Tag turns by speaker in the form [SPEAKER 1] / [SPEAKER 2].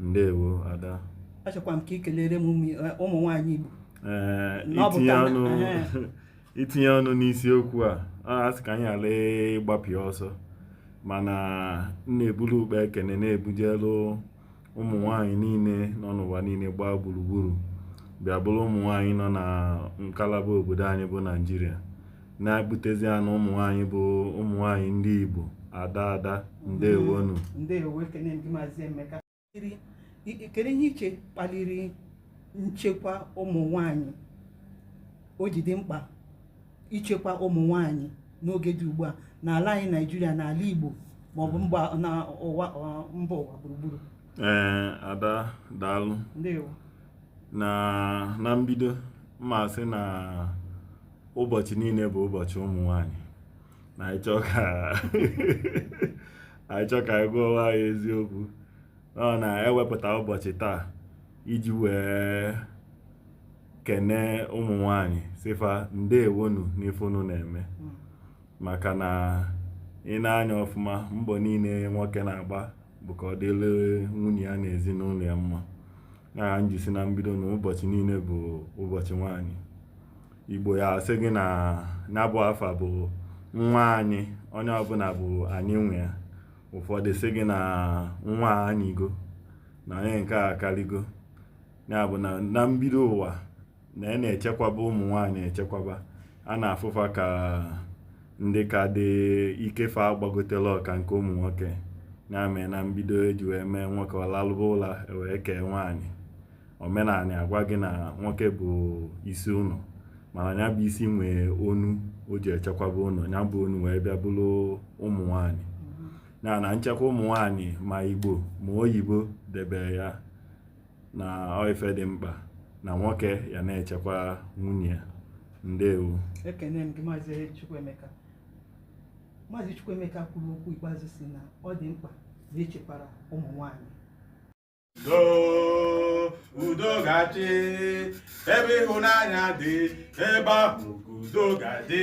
[SPEAKER 1] ndewo ada achọkwa m ka
[SPEAKER 2] ị kelere m ụmụ eh, ụmụ nwaanyị Igbo Ee, Na ọ bụ itinye ka-
[SPEAKER 1] ọnụ Ee. itinye ọnụ n'isiokwu a a asị ka anyị ala ịgbapịa ọsọ mana m na-ebulu ụkpa ekene na-ebujelu ụmụ nwaanyị niile nọ n'ụwa niile gbaa gburugburu bịa bụrụ ụmụ nwaanyị nọ na ngalaba obodo anyị bụ naijiria na-ebutezi ya na ụmụ nwaanyị bụ ụmụ nwaanyị ndị Igbo ada ada ndewonu ndewo
[SPEAKER 2] ekene m gị maazị emeka Kiri- i- i- kedu ihe i che kpaliri nchekwa ụmụ nwanyị o ji dị mkpa ichekwa ụmụ nwanyị n'oge dị ugbu a n'ala anyị naijiria n'ala igbo maọbụ mba na ụwa ọ- mba ụwa gburugburu ee ada
[SPEAKER 1] daalụ ndewo
[SPEAKER 2] na
[SPEAKER 1] na mbido m ma-asị na ụbọchị niile bụ ụbọchị ụmụ nwanyị na anyị chọọ ka anyị chọọ ka anyị gwa onwe anyị eziokwu ọ na-ewepụta ụbọchị taa iji wee kene ụmụ nwanyị sị fa ndewonu n'ife unu na-eme maka na i nee anya ọfụma mbọ niile nwoke na-agba bụ ka ọ dịrị nwunye ya na ezinụlọ ya mma ya ka m ji sị na mbido na ụbọchị niile bụ ụbọchị nwaanyị igbo ya-asị gị na ya bụ afa bụ nwa anyị onye ọbụla bụ anyị nwe ya ụfọdụ sị gị na nwa anyịgo na onye nke a akaligo ya bụ na na mbido ụwa na a na-echekwaba ụmụ nwaanyị echekwaba a na-afụ fa ka ndị ka dị ike fa agbagoterọ ka nke ụmụ nwoke ya mee na mbido e ji wee mee nwoke ọ lalụba ụla wee kee nwaanyị omenala agwa gị na nwoke bụ isi ụlọ mana ya bụ isi nwee onu o ji echekwaba ụlọ ya bụ onu wee bịa bụrụ ụmụ nwaanyị ya na nchekwa ụmụ nwaanyị ma igbo ma oyibo debere ya na ọ ife dị mkpa na nwoke ya na-echekwa nwunye ya ndewo ekene m gị
[SPEAKER 2] maazị Chukwuemeka maazị Chukwuemeka kwuru okwu ikpeazụ sị na ọ dị mkpa na e chekwara ụmụ nwanyị
[SPEAKER 3] udo udo ga-achị ebe ịhụnanya dị ebe ahụ ka udo ga-adị